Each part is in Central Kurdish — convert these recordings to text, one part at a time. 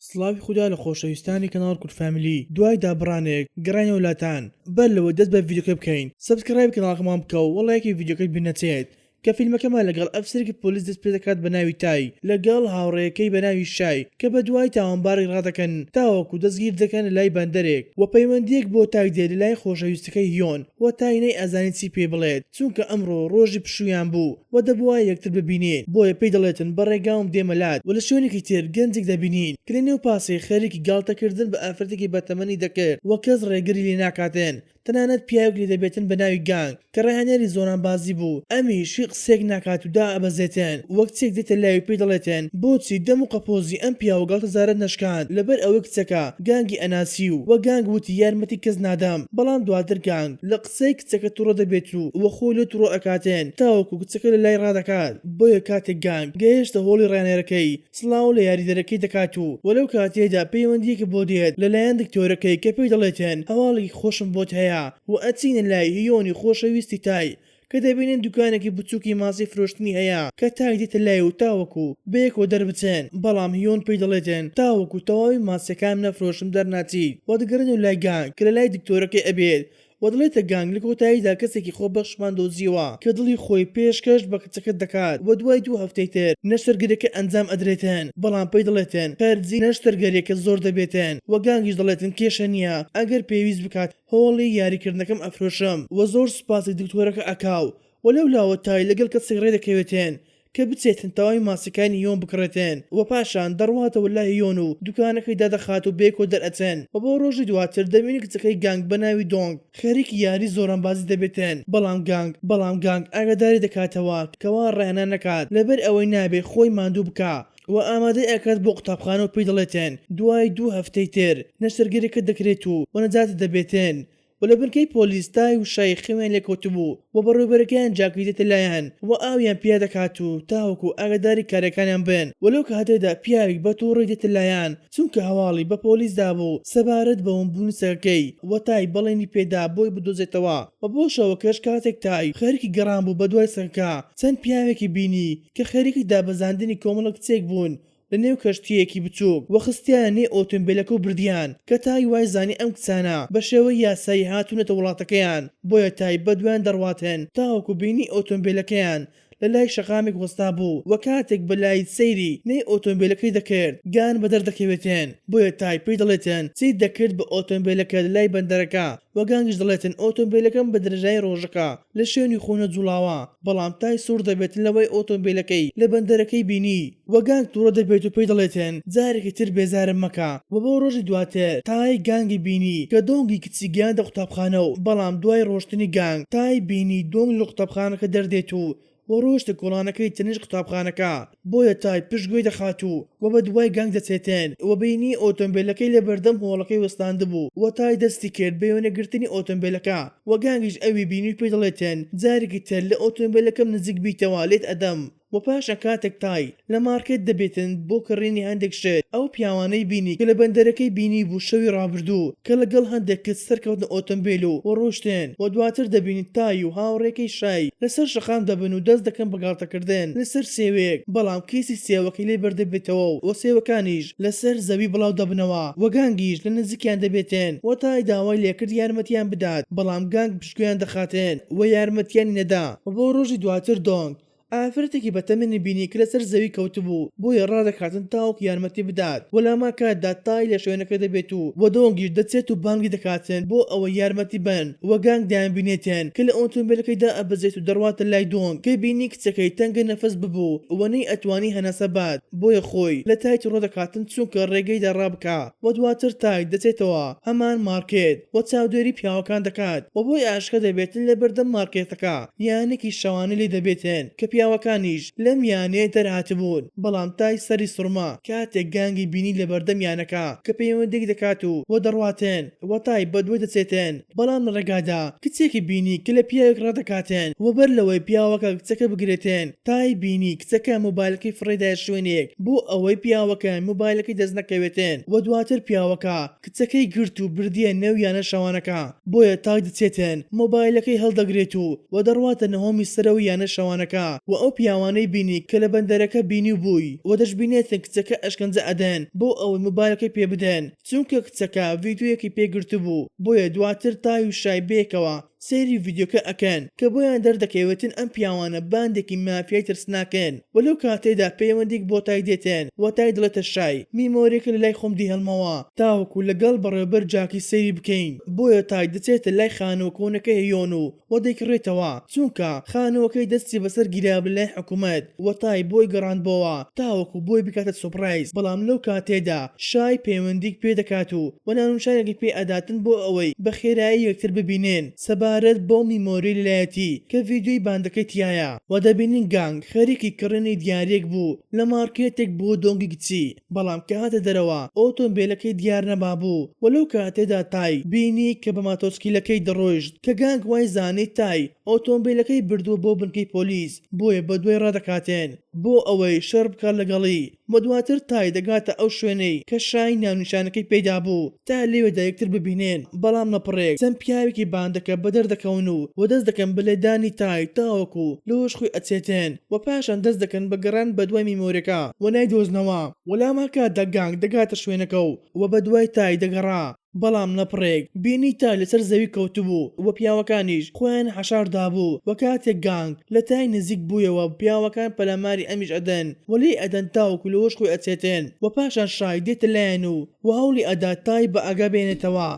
سڵاوی خودا لە خۆشەویستانی کەناڵ کورد فامیلی دوای دابڕانێک گەڕاینەوە لاتان بەر لەوەی دەست بە ڤیدیۆکە بکەین سەبسکرایبی کەناڵەکەمان بکە و لایکی ڤیدیۆکەش بیر نەچێت کە فیلمەکەمان لەگەڵ ئەفسەرێکی پۆلیس دەست پێ دەکات بە ناوی تای لەگەڵ هاوڕێیەکەی بە ناوی شای کە بە دوای تاوانبارێک ڕادەکەن تاوەکو دەستگیر دەکەن لە لای بەندەرێک وە پەیوەندیەک بۆ تای دێت لە لای خۆشەویستەکەی هیۆن وە تای نەی ئەزانێت چی پێی بڵێت. چونکە ئەمڕۆ ڕۆژی پشوویان بوو و دەبوایە یەکتر ببینین، بۆیە پێی دەڵێتن بە ڕێگاوم دێمە لات و لە شوێنێکی تر گەنجێک دەبینین کە لە نێو پاسێک خەریکی گاڵتەکردن بە ئافرەتێکی بەتەمەنی دەکرد و کەس ڕێگری لێ ناکاتن، تەنانەت پیاوێک لێ دەبێتن بە ناوی گانگ کە ڕاهێنەری زۆرانبازی بوو، ئەمیش هیچ قسەیەک ناکات و دائەبەزێتن، وەک چێک دێتە لای و پێی دەڵێتن بۆچی دەم و قەپۆزی ئەم پیاوە گاڵتەجارەت نەشکاند، لەبەر ئەوەی کچەکە گانگی ئەناسی و وە گانگ وتی یارمەتی کەس نادەم، بەڵام دواتر گانگ لە قسەی کچەکە توڕە دەبێت و وە خۆی لێ توڕە ئەکاتێن تاوەکو کچەکە لە لای ڕادەکات بۆیە کاتێک گانگ گەیشتە هۆڵی ڕانێرەکەی سڵاو لە یاریدەرەکەی دەکات و وە لەو کاتەیەدا پەیوەندیەکە بۆ دێت لە لایەن دکتۆرەکەی کە پێی دەڵێتێن هەواڵێکی خۆشم بۆت هەیە وە ئەچینە لای هیۆنی خۆشەویستی تای کە دەبینین دوکانێکی بچوکی ماسی فرۆشتنی هەیە کە تای دێتە لای و تاوەکو بەیەکەوە دەربچن بەڵام هیۆن پێی دەڵێتێن تاوەکو تەواوی ماسیەکانم نەفرۆشم دەرناچیت وە دەگەڕێنەوە لای گانگ کە لە لای دکتۆرەکەی ئەبێت و دەڵێتە گانگ، لە کۆتاییدا کەسێکی خۆبەخشمان دۆزیەوە کە دڵی خۆی پێش کەش بە کچەکەت دەکات و دوای دوو هەفتەی تر نەشتەرگەریەکە ئەنجام ئەدرێتن بەڵام پێی دەڵێتن خەرجی نەشتەرگەریەکە زۆر دەبێتن و گانگیش دەڵێتن کێشە نیە ئەگەر پێویست بکات هۆڵی یاری کردنەکەم ئەفرۆشم و زۆر سوپاسی دکتۆرەکە ئەکا و لەو لاوە تای لەگەڵ کەسێک ڕێدەکەوێتن کە بچێتن تەواوی ماسیەکانی یۆن بکڕێتن و پاشان دەڕواتەوە لای یۆن و دوکانەکەی دادەخات و بەیەکەوە دەرئەچن و بۆ ڕۆژی دواتر دەبینی کچەکەی گانگ بە ناوی دۆنگ خەریکی یاری زۆرانبازی دەبێتن بەڵام گانگ بەڵام گانگ ئاگاداری دەکاتەوە کە وا ڕایانا نەکات لەبەر ئەوەی نابێ خۆی ماندوو بکا و ئامادەی ئەکات بۆ قوتابخانە و پێی دەڵێتن دوای دوو هەفتەی تر نەشتەرگەریەکەت دەکرێت و و نەجاتی دەبێتن و لە بنکەی پۆلیس تای و شای خەویان لێ کەوتبوو و بەڕێوەبەرەکەیان جاکەی دێتە لایان و ئاویان پیا دەکات و تاوەکو ئاگاداری کارەکانیان بن و لەو کاتەدا پیاویک بە توڕەی دێتە لایان چونکە هەواڵی بە پۆلیس دابوو سەبارەت بە ون بوونی سەگەکەی و تای بەڵێنی پێ دا بۆی بدۆزێتەوە و بۆ شەوەکەش کاتێک تای خەریکی گەڕان بوو بەدوای سەگەکە چەند پیاوێکی بینی کە خەریکی دابەزاندنی کۆمەڵە کچێک بوون لە نێو کەشتییەکی بچووک و خستیانە نێو ئۆتۆمبێلەکە و بردیان، کە تای وای زانی ئەم کچانە بە شێوەی یاسایی هاتوونەتە وڵاتەکەیان، بۆیە تای بە دوایان دەڕواتن تاوەکو بینی ئۆتۆمبێلەکەیان لە لای شەقامێک وەستابوو و کاتێک بە لایت سەیری نێی ئۆتۆمبێلەکەی دەکرد گان بەدەر دەکەوێتن، بۆیە تای پێی دەڵێتن چیت دەکرد بە ئۆتۆمبێلەکە لە لای بەندەرەکە؟ وەگانگش دەڵێتن ئۆتۆمبیلەکەم بە درێژایی ڕۆژەکە لە شوێنی خۆ نەجوڵاوە، بەڵام تای سوڕ دەبێت لەوەی ئۆتۆمبیلەکەی لە بەندەرەکەی بینی، وەگانگ توڕە دەبێت و پێی دەڵێتن جارێکی تر بێزارم مەکە، وە بۆ ڕۆژی دواتر تای گانگی بینی کە دۆنگی کچی گەیاندە قوتابخانە و بەڵام دوای ڕۆشتنی گانگ تای بینی دۆنگ لە قوتابخانەکە دەردێت و و ڕۆشتە کۆڵانەکەی تەنیشت قوتابخانەکە بۆیە تای پشت گوێی دەخات و و بە دوای گەنگ دەچێتێن و بینی ئۆتۆمبێلەکەی لە بەردەم هۆڵەکەی وەستاندبوو و تای دەستی کرد بە وێنە گرتنی ئۆتۆمبێلەکە و گەنگیش ئەوی بینی و پێی دەڵێتێن جارێکی تر لە ئۆتۆمبێلەکەم نزیک بیتەوە لێت ئەدەم و پاشان کاتێک تای لە مارکێت دەبێتن بۆ کڕینی هەندێک شت، ئەو پیاوانەی بینی کە لە بەندەرەکەی بینیبوو شەوی ڕابردوو کە لە گەڵ هەندێک کچ سەرکەوتنە ئۆتۆمبێل و و ڕۆشتن و دواتر دەبینی تای و هاوڕێکەی شای لە سەر شەقام دەبن و دەست دەکەن بە گاڵتە کردن لە سەر سێوێک بەڵام کیسی سێوەکەی لێ بەردەبێتەوە و و سێوەکانیش لە سەر زەوی بڵاو دەبنەوە و گانگیش لە نزیکیان دەبێتن و تای داوای لێ کرد یارمەتیان بدات بەڵام گانگ پشتگوێیان دەخاتن و یارمەتیانی نەدا و بۆ ڕۆژی دواتر دۆنگ ئافرەتێکی بە تەمەنی بینی کە لەسەر زەوی کەوتبوو، بۆیە ڕادەکاتن تاوەکو یارمەتی بدات و لەهەمان کاتدا تای لە شوێنەکە دەبێت و بە دۆنگیش دەچێت و بانگی دەکاتن بۆ ئەوەی یارمەتی بەن و گانگ دەیانبینێتن کە لە ئۆتۆمبێلەکەی دائەبەزێت و دەڕواتە لای دۆنگ کە بینی کچەکەی تەنگە نەفەس ببوو و نەیئەتوانی هەناسە بات بۆیە خۆی لە تایتی ڕۆدەکاتن چونکە ڕێگەی دا ڕابکا و دواتر تاک دەچێتەوە هەمان مارکێت و چاودێری پیاوەکان دەکات و بۆی ئاشکرا دەبێتن لە بەردەم مارکێتەکە یانەیەکی شەوانە لێ دەبێتن کە پیاوەکانیش لەم یانەیە دەرهاتبوون بەڵام تای سەری سڕما کاتێک گانگی بینی لە بەردەم یانەکە کە پەیوەندیەک دەکات و وە دەڕواتن وە تای بەدوای دەچێتن بەڵام لە ڕێگادا کچێکی بینی کە لە پیاوێک ڕادەکاتێن و بەر لەوەی پیاوەکە کچەکە بگرێتێن تای بینی کچەکە مۆبایلەکەی فڕێدایە شوێنێک بۆ ئەوەی پیاوەکە مۆبایلەکەی دەست نەکەوێتێن و دواتر پیاوەکە کچەکەی گرت و بردیە نێو یانە شەوانەکە بۆیە تای دەچێتێن مۆبایلەکەی هەڵدەگرێت و و دەڕواتە نهۆمی سەرەوەی یانە شەوانەکە و ئەو پیاوانەی بینی کە لە بەندەرەکە بینیوبووی و دەشبینێتن کچەکە ئەشکەنجە ئەدەن بۆ ئەوەی مۆبایلەکەی پێ بدەن چونکە کچەکە ڤیدیۆیەکی پێ گرتبوو بۆیە دواتر تای و شای بەیەکەوە سەیری ڤیدیۆکە ئەکەن کە بۆیان دەردەکەوێتن ئەم پیاوانە باندێکی مافیای ترسناکن وە لەو کاتەیدا پەیوەندیک بۆ تای دێتن وە تای دڵێتە شای میمۆریەکە لەلای خۆم دیهێڵمەوە تاوەکو لەگەڵ بەڕێوبەر جاکی سەیری بکەین بۆیە تای دەچێتە لای خانوە کۆنەکەی هێیۆن و و دەیکڕێتەوە چونکە خانوەکەی دەستی بەسەر گیرا لە لای حکومەت و تای بۆی گەڕاندبۆوە تاوەکو بۆی بکاتە سۆپرایز بەڵام لەو کاتەیەدا شای پەیوەندیک پێ دەکات و و نانونشارێک پێ ئەداتن بۆ ئەوەی بە خێرایی یەکتر ببینێن سەبارەت بەو میمۆری لەلایەتی کە ڤیدیۆی باندەکەی تیایە و دەبینین گانگ خەریکی کڕینی دیاریەک بوو لە مارکێتێک بۆ دۆنگی گچی بەڵام کە هاتە دەرەوە ئۆتۆمبێلەکەی دیار نەمابوو و لەو کاتەیدا تای بینی کە بە ماتۆسکیلەکەی دەڕۆیشت کە گانگ وای زانی تای ئۆتۆمبێلەکەی بردووە بۆ بنکەی پۆلیس بۆیە بە دوای ڕادەکاتێن بۆ ئەوەی شەڕ بکات لەگەڵی و دواتر تای دەگاتە ئەو شوێنەی کە شای ناونیشانەکەی پێی دابوو. تا لەوێدا یەکتر ببینێن، بەڵام نەپڕێک چەند پیاوێکی باندەکە بەدەر دەکەون و و دەست دەکەن بە لێدانی تای تاوەکو لۆش خۆی ئەچێتێن و پاشان دەست دەکەن بە گەڕان بە دوای میمۆرێکا و نایدۆزنەوە، وە لامان کاتدا گانگ دەگاتە شوێنەکە و و بە دوای تای دەگەڕا، بەڵام نەپڕێک بینی تای لەسەر زەوی کەوتبوو و پیاوەکانیش خۆیان حەشار دابوو و کاتێک گانگ لە تای نزیک بوویەوە پیاوەکان پەلاماری ئەمیش ئەدەن و لێی ئەدەن تاوەکو لۆش خۆی ئەچێتێن و پاشان شای دێتە لایان و و هەوڵی ئەدات تا ی بە ئاگا بێنێتەوە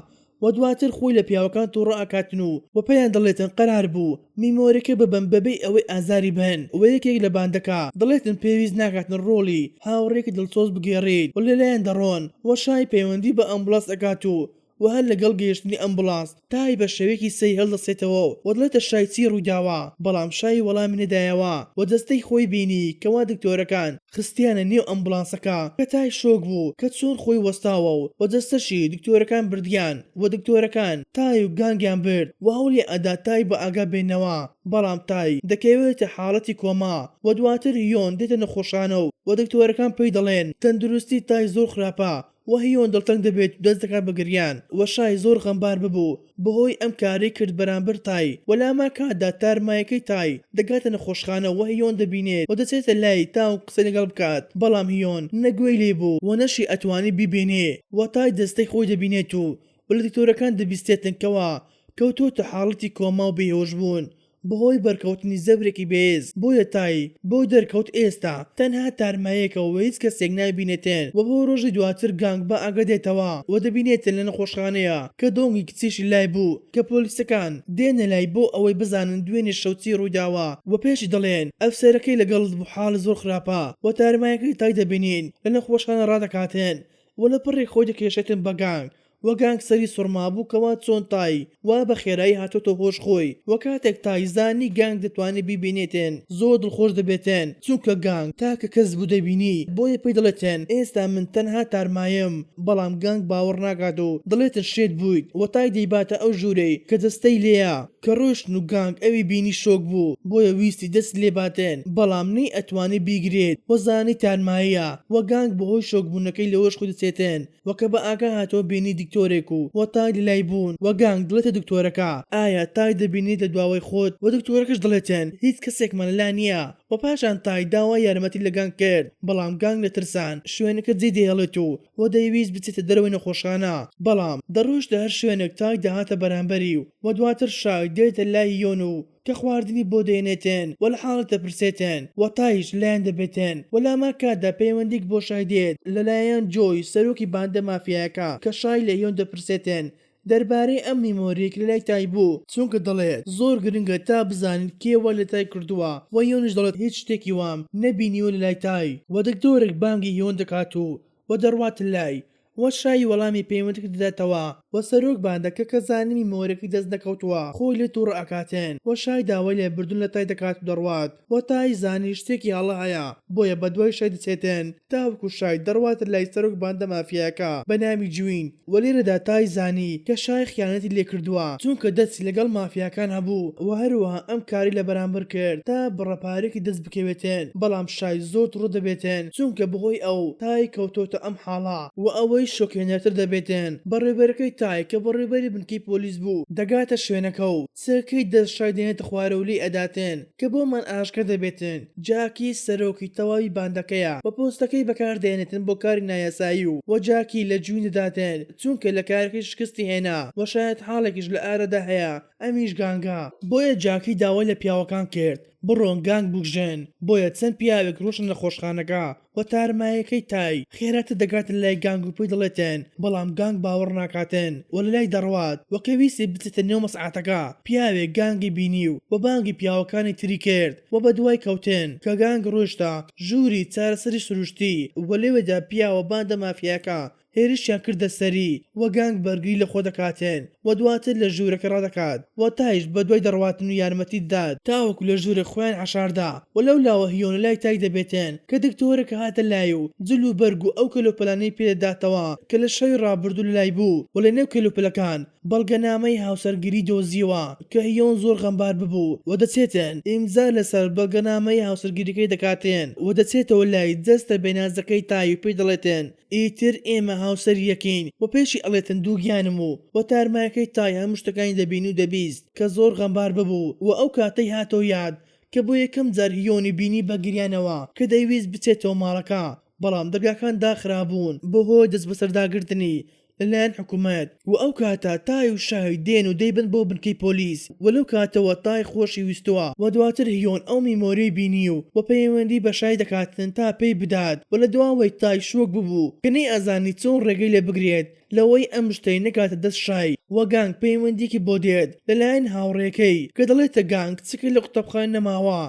و دواتر خۆی لە پیاوەکان توڕە ئەکاتن و و پێیان دەڵێتن قەرار بوو میمۆرەکە ببەم بەبێی ئەوەی ئازاری بەن و یەکێک لە باندەکە دەڵێتن پێویست ناکاتن ڕۆڵی هاوڕێیەکی دڵسۆز بگێڕیت و لەلایان دەڕۆن و شای پەیوەندی بە ئەمبوڵاس ئەکات و و هەر لەگەڵ گەیشتنی ئەمبوڵاس تای بە شێوەیەکی سەیر هەڵدەستێتەوە و دەڵێتە شای چی ڕوویداوە، بەڵام شای وەڵامی نەدایەوە و جەستەی خۆی بینی کەوا دکتۆرەکان خستیانە نێو ئەمبوڵانسەکە کە تای شۆک بوو کە چۆن خۆی وەستاوە و و جەستەشی دکتۆرەکان بردیان و دکتۆرەکان تای و گانگیان برد و هەوڵیان ئەدا تای بە ئاگا بێننەوە بەڵام تای دەکەوێتە حاڵەتی کۆما و دواتر یۆن دێتە نەخۆشخانە و و دکتۆرەکان پێی دەڵێن تەندروستی تای زۆر خراپە وهیۆن دڵتەنگ دەبێت و دەست دەکات بە گریان، وە شای زۆر غەمبار ببوو بەهۆی ئەم کارەی کرد بەرامبەر تای، وە لامان کاتدا تار مایەکەی تای دەگاتە نەخۆشخانە وە هیۆن دەبینێت وە دەچێتە لای تاو قسەی لەگەڵ بکات بەڵام هیۆن نە گوێی لێ بوو وە نەشی ئەتوانی بیبینێ وە تای جەستەی خۆی دەبینێت و وە لە دکتۆرەکان دەبیستێتن کەوا کەوتووەتە حاڵەتی کۆما و بێهۆش بوون بەهۆی بەرکەوتنی زەبرێکی بەهێز بۆیە تای بۆ دەرکەوت ئێستا تەنها تارمایەکە و هیچ کەسێک نایبینێتێن و بۆ رۆژی دواتر گانگ بە ئاگا دێتەوە و دەبینێتێن لە نەخۆشخانەیە کە دۆنگی کچیشی لای بوو کە پۆلیسەکان دێنە لای بۆ ئەوەی بزانن دوێنێ شەو چی روویداوە و پێشی دەڵێن ئەفسەرەکەی لەگەڵت بوو حاڵی زۆر خراپە و تارمایەکەی تای دەبینین لە نەخۆشخانە رادەکاتێن و لە پڕێک خۆی دەکێشێتن بە گانگ و گانگسەری سوڕمابووکەوە چۆن تای وا بە خێرایی هاتۆتە هۆش خۆی و کاتێک تای زانی گانگ دەتوانێ بیبینێتێن زۆر دڵخۆش دەبێتێن چونکە گانگ تاکە کەس بوو دەبینی بۆیە پێی دەڵێتێن ئێستا من تەنها تارمایم بەڵام گانگ باوەڕ ناکات و دەڵێتن شێت بوویت و تای دەیباتە ئەو ژوورەی کە جەستەی لێیە کە ڕۆیشتن و گانگ ئەوی بینی شۆک بوو بۆیە ویستی دەستی لێ باتێن بەڵام نەی ئەتوانی بیگرێت و زانی تارماییە و گانگ بەهۆی شۆک بوونەکەی لەهۆش خۆی دەچێتێن و کە بە ئاگا هاتەوە بینی دکتۆرێک و و تای لە لای بوون و گانگ دڵێتە دکتۆرەکە ئایا تای دەبینیت لە دواوەی خۆت و دکتۆرەکەش دڵێتن هیچ کەسێکمان لە لا نییە و پاشان تای داوای یارمەتی لە گانگ کرد بەڵام گانگ لە ترسان شوێنەکە جێ دەهێڵێت و و دەیویست بچێتە دەرەوەی نەخۆشخانە بەڵام دەڕۆیشت لە هەر شوێنێک تای دەهاتە بەرامبەری و و دواتر شای دێتە لای یۆن و کە خواردنی بۆ دەێنێتێن و لە حاڵت دەپرسێتێن و تایش لایان دەبێتێن و لە هەمان کاتدا پەیوەندیک بۆ شای دێت لە لایان جۆی سەرۆکی باندە مافیایەکە کە شای لە یۆن دەپرسێتێن دەربارەی ئەم میمۆریەک لە لای تای بوو چونکە دەڵێت زۆر گرنگە تا بزانین کێ وا لە تای کردووە و یۆنش دەڵێت هیچ شتێکی وام نەبینیوە لە لای تای و دکتۆرەک بانگی یۆن دەکات و و دەڕوات لای و شای وەڵامی پەیوەندەکەی دەداتەوە و سەرۆک باندە کە کە زانیوی مۆرەکەی دەست نەکەوتووە خۆی لێ توڕە ئەکاتن و شای داوای لێ بردن لە تای دەکات و دەڕوات و تای زانی شتێکی هەڵە هەیە بۆیە بەدوای شای دەچێتن تاوەکو شای دەڕواتە لای سەرۆک باندە مافیایەکە بەناوی جوین وە لێرەدا تای زانی کە شای خیانەتی لێکردووە چونکە دەستی لەگەڵ مافیاکان هەبوو وە هەروەها ئەم کاری لە بەرامبەر کرد تا بڕە پارەێکی دەست بکەوێتێن بەڵام شای زۆر توڕە دەبێتێن چونکە بەهۆی ئەو تای کەوتۆتە ئەم حاڵە. وە ئەوەی شۆکهێنەرتر دەبێتێن بەڕێوبەرەکەی تای کە بەڕێوبەری بنکەی پۆلیس بوو دەگاتە شوێنەکە و چ کەی دەست شای دێنێتە خوارەو لێی ئەداتن کە بۆمان ئاشکرا دەبێتن جاکی سەرۆکی تەواوی باندەکەیە بە پۆستەکەی بەکار دەێنێتن بۆ کاری نایاسایی و وە جاکی لە جوین دەداتن چونکە لە کارەکەی شکستی هێنا وە شایەت حاڵێکیش لە ئارەدا هەیە ئەمیش گانگە بۆیە جاکی داوای لە پیاوەکان کرد بڕۆن گانگ بکوژن بۆیە چەند پیاوێک ڕۆشتن نەخۆشخانەکە و تارمایەکەی تای خێراتر دەگاتە لای گانگ و پێی دەڵێتێن بەڵام گانگ باوەڕ ناکاتێن و لەلای دەڕوات و کە ویستی بچێتە نێو مەسعاتەکە پیاوێک گانگی بینی و بە بانگی پیاوەکانی تری کرد و بەدوای کەوتێن کە گانگ ڕۆیشتە ژووری چارەسەری سروشتی و لەوێدا پیاوە باندە مافیایەکە هێرشیان کردە سەری و گانگ بەرگری لە خۆ دەکاتێن و دواتر لە ژوورەکە ڕادەکات و تایش بە دوای دەڕواتن و یارمەتی دەدات تاوەکو لە ژوورێک خۆیان حەشاردا و لەو لاوە هیۆنە لای تای دەبێتێن کە دکتۆرەکە هاتە لای و جل و بەرگ و ئەو کەلوپەلانەی پێ دەداتەوە کە لە شەوی ڕابردوو لە لای بوو و لە نێو کەلوپەلەکان بەڵگەنامەی هاوسەرگیری دۆزیەوە کە هیۆن زۆر غەمبار ببوو و دەچێتێن ئیمزا لە سەر بەڵگەنامەی هاوسەرگیریەکەی دەکاتێن و دەچێتەوە لای جەستە بێنازەکەی تای و پێی دەڵێتێن ئیتر ئێمە هاوسەر یەکین و پێشی ئەڵێتن دووگیانم و و تارمایەکەی تای هەموو شتەکانی دەبین و دەبیست کە زۆر غەمبار ببوو و ئەو کاتەی هاتەوە یاد کە بۆ یەکەم جار هیۆنی بینی بە گریانەوە کە دەیویست بچێتەوە ماڵەکە بەڵام دەرگاکان داخرابوون بە هۆی دەستبەسەرداگرتنی لەلایەن حکومەت وە ئەو کاتە تای و شای دێن و دەیبەن بۆ بنکەی پۆلیس وە لەو کاتەوە تای خۆشی ویستوە وە دواتر هیۆن ئەو میمۆرەی بینی و وە پەیوەندی بە شای دەکاتن تا پێی بدات وە لە دواوەی تای شۆک ببوو کە نەیئەزانی چۆن ڕێگەی لێ بگرێت لەوەی ئەم شتەی نەگاتە دەست شای وە گانگ پەیوەندیەکی بۆ دێت لەلایەن هاوڕێکەی کە دەڵێتە گانگ چکە لە قوتابخانە نەماوە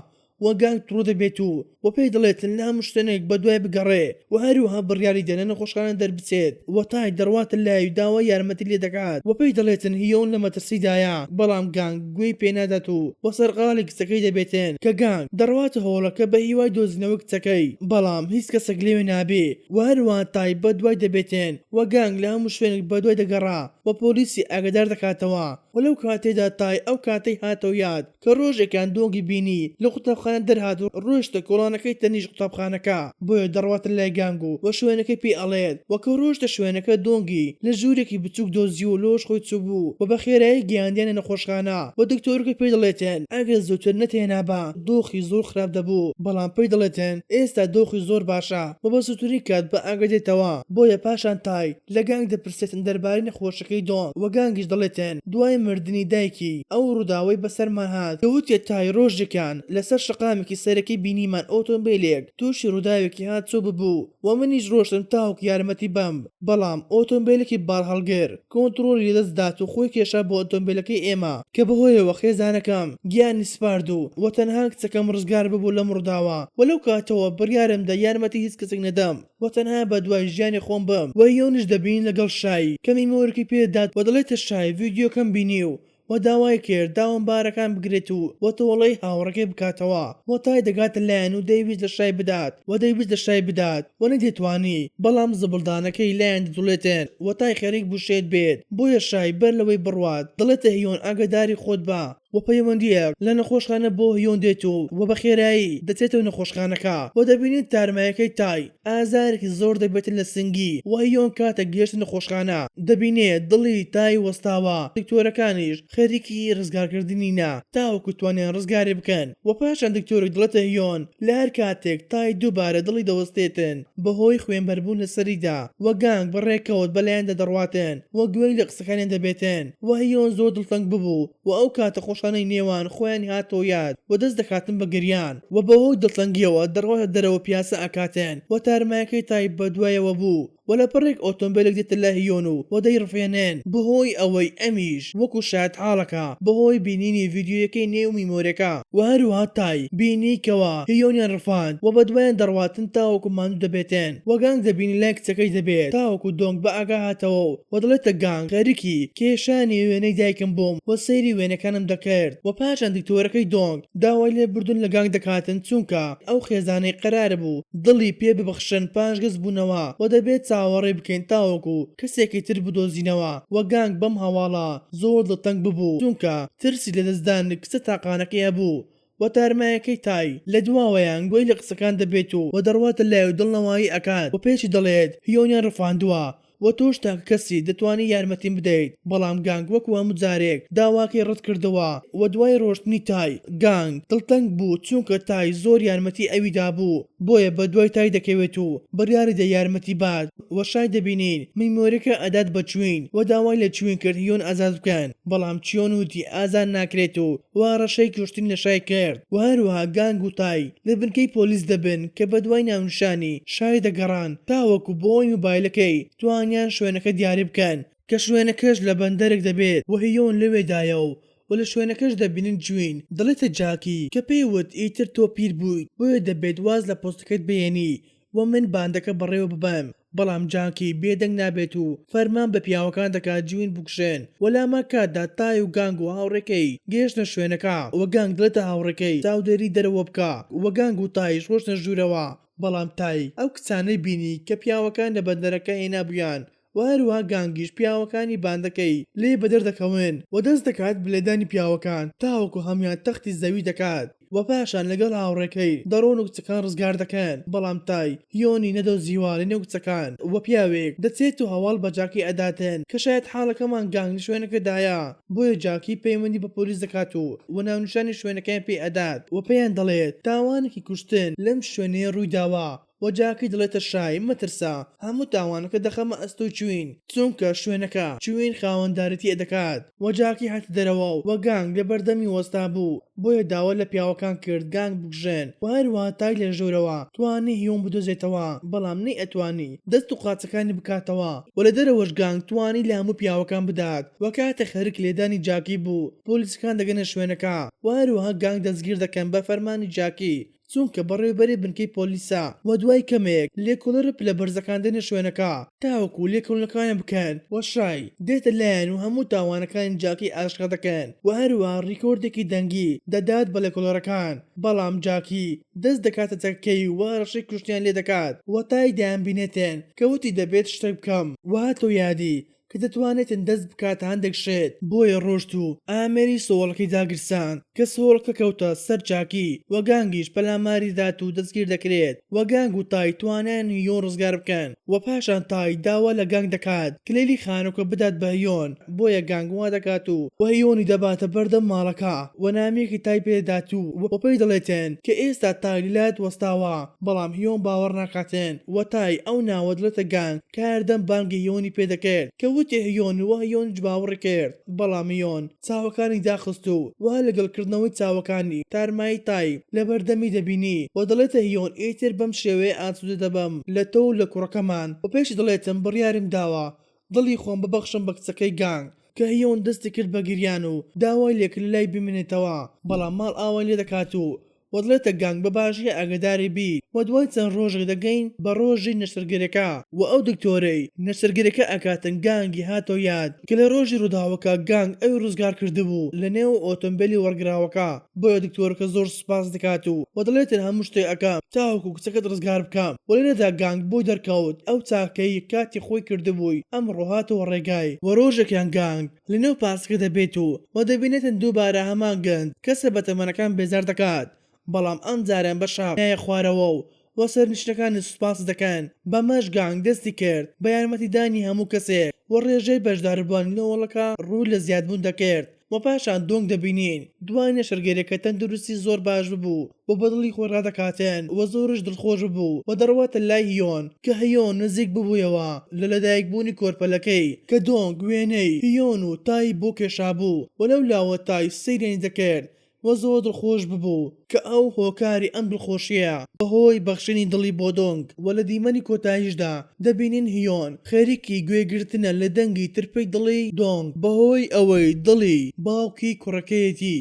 و گانگ ڕوودەبێت و و پێی دەڵێت نامشتێنێک بەدوای بگەڕێ و هەروەها بڕیاری دەنە نەخۆشخانە دەربچێت و تای دەڕواتە لای و داوای یارمەتی لێ دەکات و پێی دەڵێتن هیۆن لە مەترسیدایە بەڵام گانگ گوێی پێ نادات و و سەرقاڵی کچەکەی دەبێتن کە گانگ دەڕواتە هۆڵەکە بە هیوای دۆزینەوەی کچەکەی بەڵام هیچ کەسێک لەوێ نابێ و هەروەها تای بەدوای دەبێتن و گانگ لە هەموو شوێنێک بەدوای دەگەڕا و پۆلیسی ئاگادار دەکاتەوە و لەو کاتەیدا تای ئەو کاتەی هاتەوە یاد کە ڕۆژێکیان دۆنگی بینی لە قوتابخانە دەرهات و ڕۆیشتە کۆڵانەکەی تەنیشت قوتابخانەکە بۆیە دەڕواتە لای گانگ و وە شوێنەکەی پێی ئەڵێت وە کە ڕۆیشتە شوێنەکە دۆنگی لە ژورێکی بچوک دۆزی و لۆش خۆی چوبوو وە بە خێرایی گەیاندیانە نەخۆشخانە وە دکتۆرەکە پێی دەڵێتن ئەگەر زوتر نەتهێنابا دۆخی زۆر خراپ دەبوو بەڵام پێی دەڵێتن ئێستا دۆخی زۆر باشە وە بە زوترین کات بە ئاگا دێتەوە بۆیە پاشان تای لە گانگ دەپرسێتن دەربارەی نەخۆشەکەی دۆنگ و گانگیش دەڵێتن دوای مردنی دایکی ئەو ڕووداوەی بەسەرمان هات کە وتیە تای ڕۆژێکیان لەسەر شەقامێکی سەرەکی بینیمان ئۆتۆمبێلێک تووشی ڕووداوێکی هاتسۆ ببوو و منیش ڕۆشتم تاوەکو یارمەتی بەم بەڵام ئۆتۆمبێلێکی باڵهەڵگر کۆنتڕۆڵی لەدەست دات و خۆی کێشا بۆ ئۆتۆمبێلەکەی ئێمە کە بەهۆیەوە خێزانەکەم گیانی سپارد و وە تەنها کچەکەم ڕزگار ببوو لەم ڕووداوە وە لەو کاتەوە بڕیارم دا یارمەتی هیچ کەسێک نەدەم. و تەنها بە دوای ژیانی خۆم بم وە یونش دەبین لەگەڵ شای کەمی مۆرکی پێ دات وە دەڵێتە شای ڤیدیۆکەم بینیو وە داوای کرد داوام بارەکان بگرێت و وە تۆڵەی هاوڕێکەی بکاتەوە وە تای دەگاتە لایان و دەیویست لە شای بدات وە دەیویست لە شای بدات وە نەیدەتوانی بەڵام زبڵدانەکەی لایان دەجوڵێتن وە تای خەریک بوو شێت بێت بۆیە شای بەر لەوەی بڕوات دەڵێتە هیۆن ئاگاداری خۆت بە و پەیوەندییەک لە نەخۆشخانە بۆ هیۆن دێت و و بە خێرایی دەچێتەوە نەخۆشخانەکە و دەبینین تارمایەکەی تای ئازارێکی زۆر دەبێتە لە سنگی و هیۆن کاتێک گەیشتە نەخۆشخانە دەبینێ دڵی تای وەستاوە دکتۆرەکانیش خەریکی ڕزگارکردنینە تاوەکو توانیان ڕزگاری بکەن و پاشان دکتۆرێک دەڵێتە هیۆن لە هەر کاتێک تای دووبارە دڵی دەوەستێتن بە هۆی خوێنبەربوون لە سەریدا و گانگ بە ڕێکەوت بەلایاندا دەڕواتن و گوێی لە قسەکانیان دەبێتن. وهیۆن زۆر دڵتەنگ ببوو و ئەو کاتە خۆشانەی نێوان خۆیانی هاتەوە یاد و دەست دەکاتن بە گریان و بەهۆی دڵتەنگیەوە دەڕواتە دەرەوە پیاسە ئەکاتن و تارمایەکەی تای بە دوایەوە بوو و لە پەڕێک ئۆتۆمبێلێک دێتە لای هیۆن و و دەیڕفێنن بەهۆی ئەوەی ئەمیش وەکو شایەت حاڵەکە بەهۆی بینینی ڤیدیۆیەکەی نێو میمۆرەکە و هەروەها تای بینی کەوا هیۆنیان ڕفاند و بەدوایان دەڕواتن تاوەکو ماندوو دەبێتن و گانگ دەبینی لای کچەکەی دەبێت تاوەکو دۆنگ بە ئاگا هاتەوە و و دەڵێتە گانگ خەریکی کێشانی وێنەی دایکم بووم و سەیری وێنەکانم دەکرد و پاشان دکتۆرەکەی دۆنگ داوای لێبوردن لە گانگ دەکاتن چونکە ئەو خێزانەی قەراربوو دڵی پێ ببخشن پاشگەز بوونەوە و دەبێت چاوەڕێ بکەین تاوەکو کەسێکی تر بدۆزینەوە و گانگ بەم هەواڵە زۆر دڵتەنگ ببوو چونکە ترسی لەدەستدانی کچە تاقانەکەی هەبوو و تارمایەکەی تای لە دواوەیان گوێی لە قسەکان دەبێت و و دەڕواتە لای و دڵنەوایی ئەکات و پێچی دەڵێت هیۆنیان ڕفاندوە و تۆش تاکە کەسی دەتوانی یارمەتیم بدەیت بەڵام گانگ وەکو هەموو جارێک داواکەی ڕەت کردەوە و دوای ڕۆشتنی تای گانگ دڵتەنگ بوو چونکە تای زۆر یارمەتی ئەوی دابوو بۆیە بەدوای تای دەکەوێت و بڕیاریدا یارمەتی بات وە شای دەبینین مەیمۆرەکە ئەدات بە چوین وە داوای لە چوین کرد یۆن ئازاد بکەن بەڵام چیۆن وتی ئازاد ناکرێت و وە هەڕەشەی کوشتن لە شای کرد وە هەروەها گانگ و تای لە بنکەی پۆلیس دەبن کە بەدوای ناونیشانی شای دەگەڕان تاوەکو بەوەی موبایلەکەی توانیان شوێنەکە دیاری بکەن کە شوێنەکەش لە بەندەرێک دەبێت وە هیۆن لەوێدایە و وە لە شوێنەکەش دەبینن جوین دەڵێتە جاکی کە پێی وت ئیتر تۆ پیر بویت بۆیە دەبێت واز لە پۆستەکەت بهێنی و من باندەکە بەڕێوە ببەم، بەڵام جانکی بێ دەنگ نابێت و فەرمان بە پیاوەکان دەکات جوین بکوژێن و لامان کاتدا تای و گانگ و هاوڕێکەی گەیشتنە شوێنەکە و گانگ دەڵێتە هاوڕێکەی چاودێری دەرەوە بکە و گانگ و تایش ڕۆشتنە ژوورەوە، بەڵام تای ئەو کچانەی بینی کە پیاوەکان لە بەندەرەکە هێنابوویان و هەروەها گانگیش پیاوەکانی باندەکەی لێ بەدەر دەکەون و دەست دەکات بە لێدانی پیاوەکان تاوەکو هەموویان تەختی زەوی دەکات و پاشان لەگەڵ هاوڕێکەی دەڕۆن و کچەکان ڕزگار دەکەن بەڵام تای هیۆنی نەدۆزیوە لەنێو کچەکان و پیاوێک دەچێت و هەواڵ بە جاکی ئەداتن کە شایەت حاڵەکەمان گانگ لە شوێنەکەدایە بۆیە جاکی پەیوەندی بە پۆلیس دەکات و و ناونیشانی شوێنەکەیان پێ ئەدات و پێیان دەڵێت تاوانێکی کوشتن لەم شوێنەیە ڕووی داوە و جاکی دەڵێتە شای، مەترسە، هەموو تاوانەکە دەخەمە ئەستۆی چوین، چونکە شوێنەکە چوین خاوەندارێتیی دەکات و جاکی هاتە دەرەوە و گانگ لەبەردەمی وەستابوو، بۆیە داوا لە پیاوەکان کرد گانگ بکوژێن و هەروەها تای لە ژوورەوە توانی هیۆن بدۆزێتەوە، بەڵام نەیئەتوانی دەست و قاچەکانی بکاتەوە و لە دەرەوەش گانگ توانی لە هەموو پیاوەکان بدات و کاتێک خەریک لێدانی جاکی بوو، پۆلیسەکان دەگەنە شوێنەکە و هەروەها گانگ دەستگیر دەکەن بە فەرمانی جاکی. چونکە بەڕێوبەرێ بنکەی پۆلیسە وە دوای کەمێک لێکۆڵەرە پلە بەرزەکان دێنە شوێنەکە تاوەکو لێکۆلنەکەوان بکەن وە شای دێتە لایان و هەموو تاوانەکانی جاکی ئاشکرا دەکەن وە هەروەها ڕیکۆردێکی دەنگی دەدات بە لێکۆڵەرەکان بەڵام جاکی دەست دەکاتە چەکەکەی و هەڕەشەی کوشتنیان لێ دەکات وە تای دەیان بینێتێن کە وتی دەبێت شتەک بکەم وە هاتەوە یادی کە دەتوانێتن دەست بکاتە هەندێک شێت بۆیە ڕۆشت و ئامێری سۆڵکی داگیرساند کە سۆڵکە کەوتە سەر جاکی و گانگیش پەلاماری دات و دەستگیر دەکرێت و گانگ و تای توانیان هیۆن ڕزگار بکەن و پاشان تای داوا لە گانگ دەکات کلیلی خانوکە بدات بە هیۆن بۆیە گانگ وا دەکات و هیۆنی دەباتە بەردەم ماڵەکە و نامەیەکی تای پێ دەدات و پێی دەڵێتن کە ئێستا تای لەلایت وەستاوە بەڵام هیۆن باوەڕ ناکاتن و تای ئەو ناوە دەڵێتە گانگ کە هەردەم بانگی یۆنی پێ دەکرد کە وتی هیۆن و هیۆنیش باوەڕی کرد بەڵام هیۆن چاوەکانی داخست و وا لەگەڵ کردنەوەی چاوەکانی تارمایی تای لەبەردەمی دەبینی و دەڵێتە هیۆن ئیتر بەم شێوەیە ئاسوودە دەبم لە تۆ و لە کوڕەکەمان و پێشی دەڵێتم بڕیارم داوە دڵی خۆم ببەخشم بە کچەکەی گانگ کە هیۆن دەستی کرد بە گریان و داوای لێکرد لەلای بمێنێتەوە بەڵام ماڵئاوای لێ دەکات و و دڵێتە گانگ بە باشی ئاگەداری بی و دوای چەند ڕۆژێک دەگەین بە ڕۆژی نەشتەرگەریەکە و ئەو دکتۆرەی نەشتەرگەریەکە ئەکاتن گانگی هاتەوە یاد کە لە ڕۆژی ڕوداوەکە گانگ ئەوی ڕزگار کردبوو لە نێو ئۆتۆمبێلی وەڕگراوەکە بۆیە دکتۆرەکە زۆر سوپاس دەکات و و دەڵێتن هەموو شتێک ئەکەم تاوەکو کچەکەت ڕزگار بکەم و لێرەدا گانگ بۆی دەرکەوت ئەو چاکەی کاتی خۆی کردبووی ئەمڕۆ هاتەوە ڕێگای و ڕۆژێکیان گانگ لەنێو پاسکە دەبێت و وە دەبینێتن دووبارە هەمان گەنج کەسە بەتەمەنەکان بێزار دەکات بەڵام ئەم جارە بە شەق نایە خوارەوە و وە سەرنشینەکانی سوپاسی دەکەن بەمەش گانگ دەستی کرد بە یارمەتی دانی هەموو کەسێک وە ڕێژەی بەشداربوانی لە هۆڵەکە ڕوو لە زیادبوون دەکرد وە پاشان دۆنگ دەبینین دوای نەشتەرگەریەکە تەندروستی زۆر باش ببوو و بە دڵی خۆی ڕادەکاتێن و زۆرش دڵخۆش ببوو و دەڕواتە لای هیۆن کە هیۆن نزیک ببوویەوە لە لەدایک بوونی کۆرپەلەکەی کە دۆنگ وێنەی هیۆن و تای بۆ کێشابوو و لەو لاوە تای سەیرێنی دەکرد و زۆر دڵخۆش ببوو کە ئەو هۆکاری ئەم دڵخۆشیە بە هۆی بەخشینی دڵی بۆ دۆنگ و لە دیمەنی کۆتایشدا دەبینین هیۆن خەریکی گوێ گرتنە لە دەنگی ترپەی دڵی دۆنگ بە هۆی ئەوەی دڵی باوکی کوڕەکەیەتی.